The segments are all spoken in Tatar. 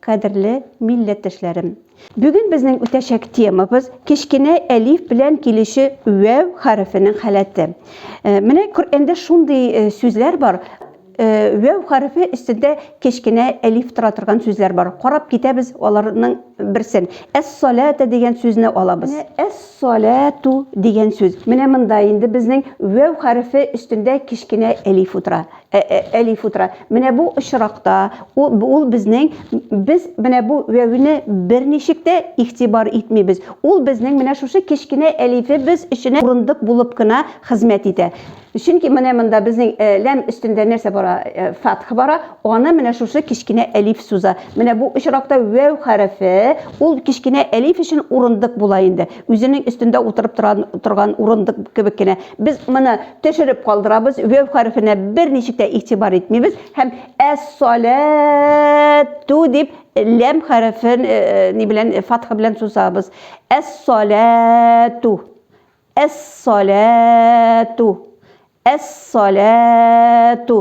Кадерле милләттәшләрем! Бүген безнең үтәчәк темабыз, кечкенә әлиф белән килүче вәү хәрефенең халәте. Э, менә Коръәндә шундый э, сүзләр бар, э, вәү хәрефе өстендә кечкенә әлиф тора торган сүзләр бар. Карап китәбез аларның берсен. Әс-салата дигән сүзне алабыз. Әс-салату дигән сүз. Менә монда инде безнең вәү хәрефе өстендә кечкенә әлиф утыра. Әлиф утыра. Менә бу очракта ул безнең без менә бу вәвне берничек тә игътибар итмибез. Ул безнең менә шушы кечкенә әлифе без өчен урындык булып кына хезмәт итә. Чөнки менә монда безнең ләм өстендә нәрсә бара? Фатх бара, аны менә шушы кечкенә әлиф суза. Менә бу очракта вәв хәрефе ул кечкенә әлиф өчен урындык була инде. үзенең өстендә утырып торган, торган урындык кебек кенә. Без моны төшереп калдырабыз, вәв хәрефенә берничек тә игътибар итмибез һәм әс-саләту дип ләм хәрефен э, э, ни белән э, фатха белән сузабыз. Әс-саләту. Әс-саләту. Әс-саләту.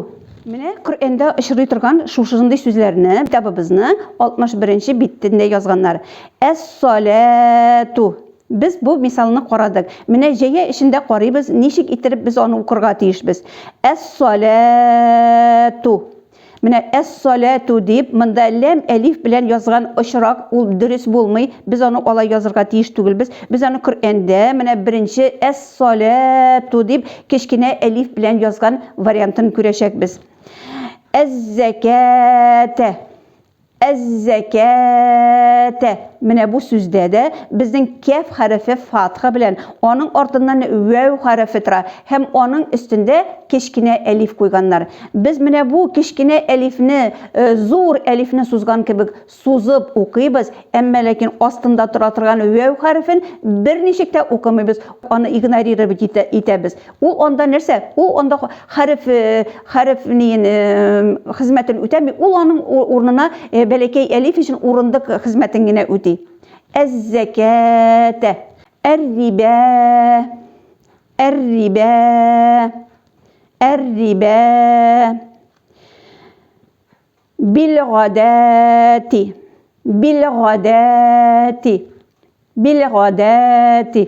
Менә Коръәндә очрый торган шушындый сүзләрне китабыбызның 61 нче битендә язганнар. Әс-саләту. Без бу мисалны карадык. Менә җәя өчен дә карыйбыз, ничек иттереп без аны укырга тиешбез. Әс-саләту. Менә әс-саләту дип, монда ләм әлиф белән язган очрак, ул дөрес булмый, без аны алай язырга тиеш түгелбез. Без аны Коръәндә менә беренче әс-саләту дип кечкенә әлиф белән язган вариантын күрәчәкбез. Әз-зәкәтә. Әз-зәкәәәтә. Менә бу сүздә дә безнең кәф хәрефе фатха белән, аның артыннан вәү хәрефе тора һәм аның өстендә кечкенә әлиф куйганнар. Без менә бу кечкенә әлифне зур әлифне сузган кебек сузып укыйбыз, әмма ләкин астында тора торган вәү хәрефен берничек тә укымыйбыз, аны игнорировать итәбез. Ул анда нәрсә? Ул анда хәреф хәреф ниен хезмәтен үтәми, ул аның урынына бәләкәй әлиф өчен урындык хезмәтен генә үти. Әз-зәкәтә, әр-рибә, әр-рибә, әр-рибә, бил-гадәти, бил-гадәти, бил-гадәти.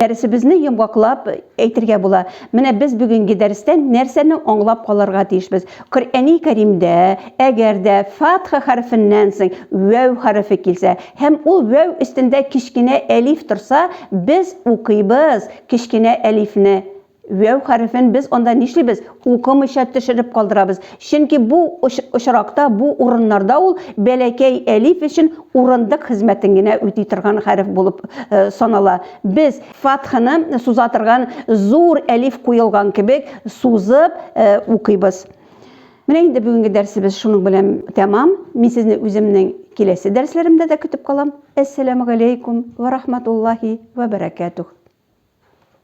Дәресебезне йомгаклап әйтергә була. Менә без бүгенге дәрестән нәрсәне аңлап калырга тиешбез? Коръәни Кәримдә, әгәр дә фатха хәрефеннән соң вәү хәрефе килсә һәм ул вәү өстендә кечкенә әлиф торса, без укыйбыз кечкенә әлифне Вәү хәрефен без анда нишлибез? Укымыйча төшереп калдырабыз. Чөнки бу очракта, бу урыннарда ул бәләкәй әлиф өчен урындык хезмәтен генә үти торган хәреф булып санала. Без фатханы суза торган зур әлиф куелган кебек сузып укыйбыз. Менә инде бүгенге дәрсебез шуның белән тәмам. Мин сезне үземнең киләсе дәресләремдә дә көтеп калам. Әссәламу галәйкум ва рахматуллаһи ва баракатух.